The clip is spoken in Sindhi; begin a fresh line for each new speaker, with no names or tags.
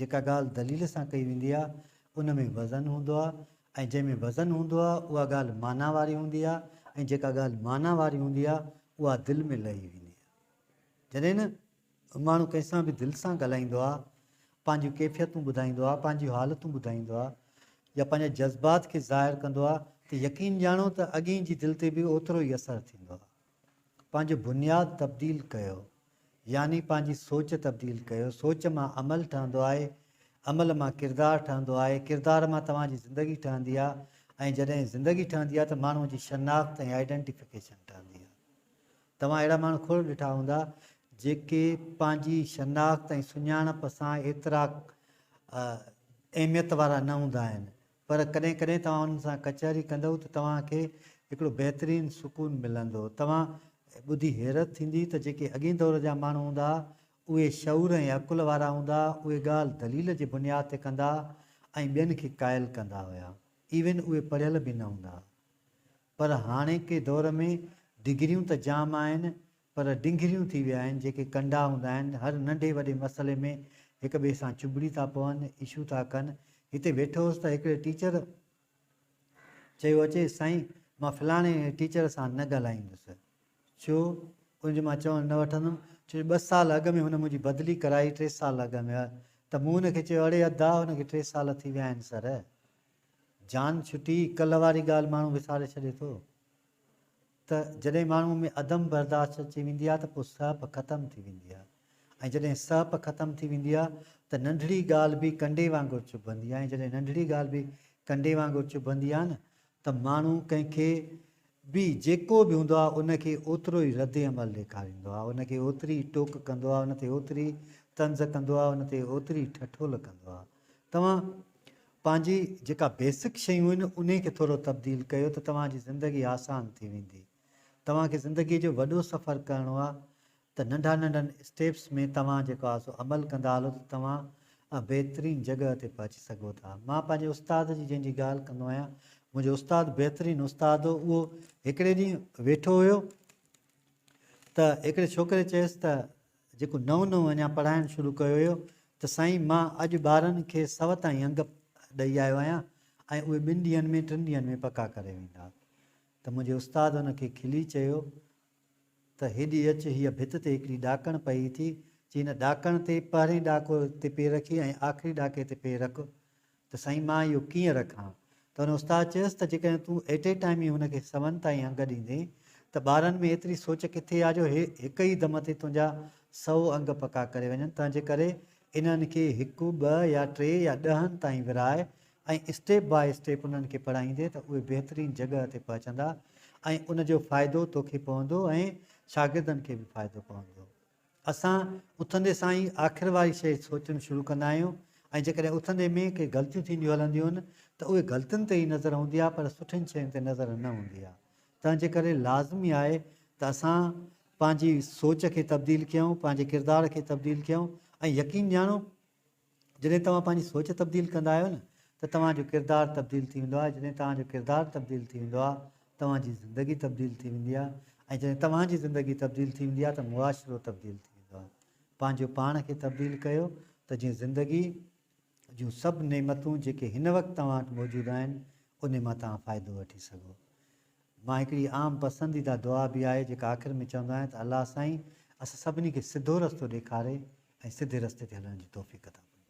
جيڪا ڳالهه دليل سان ڪئي ويندي آهي، ان ۾ وزن هوندو آهي ۽ جنهن ۾ وزن هوندو آهي، اها ڳالهه معنيٰ واري هوندي آهي ۽ جيڪا ڳالهه معنيٰ واري هوندي آهي، اها دل ۾ لهي ويندي آهي. جڏهن نه ماڻهو ڪنهن سان به دل سان ڳالهائيندو آهي، پنهنجيون ڪيفيتون ٻڌائيندو آهي، پنهنجيون حالتون ٻڌائيندو آهي يا پنهنجا جذبات کي ظاهر ڪندو آهي ته يقين ڄاڻو ته اڳئين جي دل تي به اوترو ئي اثر ٿيندو آهي. پنهنجو بنياد تبديل ڪيو يعني پنهنجي سوچ تبديل ڪيو، سوچ مان عمل ٺهندو آهي، عمل مان ڪردار ٺهندو آهي، ڪردار مان توهان جي زندگي ٺهندي آهي ۽ جڏهن زندگي ٺهندي آهي ته ماڻهو جي شناخت ۽ آئيڊنٽيفڪيشن ٺهندي آهي. توهان اهڙا ماڻهو کوڙ ڏٺا هوندا جيڪي پنهنجي شناخت ۽ سڃاڻپ سان ايترا اهميت وارا نه هوندا آهن پر ڪڏهن ڪڏهن توهان انهن سان ڪچهري ڪندئو ته توهان کي هڪڙو بهترين سڪون ملندو. توهان ٻڌي حيرت ٿيندي ته جيڪي اڳئين دور جا ماڻهو هوندا اهي شعور ۽ عقل وارا هوندا، اهي ڳالهه دليل جي بنياد تي ڪندا ۽ ٻين کي قائل ڪندا هيا. ايون اهي پڙهيل به نه هوندا هئا. پر هاڻيڪي دور ۾ ڊگريون ته جام آهن پر ڊنگريون ٿي ويا آهن جيڪي ڪنڊا هوندا آهن هر ننڍي وڏي مسئلي ۾ هڪ ٻئي سان چٻڙي ٿا پون اشو ٿا ڪن هتي ويٺو هوس ته هڪڙي ٽيچر چيو اچي سائين مان فلاڻي ٽيچر سان نه ڳالهائيندس ڇو ان جو مان چوڻ نه وٺندم ڇو جو ٻه سال اڳ ۾ هن منهنجي بدلي ڪرائي ٽي سال اڳ ۾ ته مون هن کي چيو اڙي ادا هن کي ٽي سال ٿي ويا آهن سر جان ڇٽي ڪلهه واري ڳالهه ماڻهو وساري ڇڏي ٿو ته جڏهن ماڻهوء ۾ عدم برداشت اچي ويندي آهي ته پوء سهپ ختم ٿي ويندي آهي ۽ جڏهن سهپ ختم ٿي ويندي آهي ته ننڍڙي ڳالهه به ڪنڊي وانگر چڀندي آهي ۽ جڏهن ننڍڙي ڳالهه به ڪنڊي وانگر چڀندي آهي نه ته ماڻهو ڪنهن کي به جيڪو به هوندو آهي ان کي اوترو ئي رد عمل ڏيکاريندو آهي ان کي اوتري ئي ٽوڪ ڪندو آهي ان تي اوتري ئي طنز ڪندو آهي ان تي اوتري ئي ٺٺول ڪندو آهي توهان پنهنجي جيڪا بيسڪ شيون آهن انهي کي ٿورو تبديل ڪيو ته توهان جي زندگي آسان ٿي ويندي. توهان کي زندگي جو وڏو سفر ڪرڻو آهي ته ننڍا ننڍن اسٽيپس ۾ توهان جيڪو آهي سو عمل ڪندا هلو ته توهان بهترين جڳهه تي پهچي سگهو ٿا. مان پنهنجي استاد جي جنهن جي ڳالهه ڪندو آهيان منهنجو استاد بهترين استاد هو اهو هڪڙي ڏينهن ويٺو هيو ته هڪڙي ڇوڪري چيس ته جيڪو نئون نئون اڃا پڙهائڻ شروع ڪيو هيو ته سائين مان اڄ ٻارن کي سوت ۽ انگ ڏئي آيو آهيان ۽ اهي ٻن ڏينهن ۾ ٽن ڏينهن ۾ پڪا ڪري ويندا ته منهنجي استاد ان کي کلي چيو ته هيڏي اچ هيء ڀت تي هڪڙي ڏاڪڻ پئي ٿي چي هن ڏاڪڻ تي پهرين ڏاڪو تي پير رکي ۽ آخري ڏاڪي تي پير رک ته سائين مان اهو ڪيئن رکان؟ ته هن استاد چيس ته جيڪڏهن تون ايٽ اي ٽائيم ئي هن کي سون تائين انگ ڏيندين ته ٻارن ۾ ايتري سوچ ڪٿي آ جو هي هڪ ئي دم تي تنهنجا سؤ انگ پڪا ڪري وڃن تنهن جي ڪري انهن کي هڪ ٻه يا ٽي يا ڏهن تائين ورهاء ۽ اسٽيپ باء اسٽيپ انهن کي پڙهائيندين ته اهي بهترين جڳهه تي پهچندا ۽ ان جو فائدو توکي پوندو ۽ شاگردن کي به فائدو پوندو. اسان اٿندي سان ئي آخر واري شيء سوچڻ شروع ڪندا آهيون ۽ جيڪڏهن اٿندي ۾ ڪي غلطيون ٿينديون هلنديون آهن ته اهي غلطين تي ئي نظر هوندي آهي پر سٺين شين تي نظر نه هوندي آهي تنهن جي ڪري لازمي آهي ته اسان پنهنجي سوچ کي تبديل ڪيون پنهنجي ڪردار کي تبديل ڪيون ۽ يقين ڄاڻون جڏهن توهان پنهنجي سوچ تبديل ڪندا آهيو نه ته توهان جو ڪردار تبديل ٿي ويندو آهي جڏهن توهان جو ڪردار تبديل ٿي ويندو آهي توهان جي زندگي تبديل ٿي ويندي آهي ۽ جڏهن توهان جي زندگي تبديل ٿي ويندي آهي ته معاشرو تبديل ٿي ويندو آهي پنهنجو پاڻ کي تبديل ڪيو ته جيئن زندگي جون سڀ نعمتون جيڪي هن وقت توهان وٽ موجود آهن انهي مان توهان فائدو وٺي سگهو مان هڪڙي عام پسنديده دعا به آهي جيڪا آخر ۾ چوندو آهيان ته الله سائين اسان سڀني کي سڌو رستو ڏيکاري ۽ سڌي رستي تي هلڻ جي توفيق عطا فرمائي.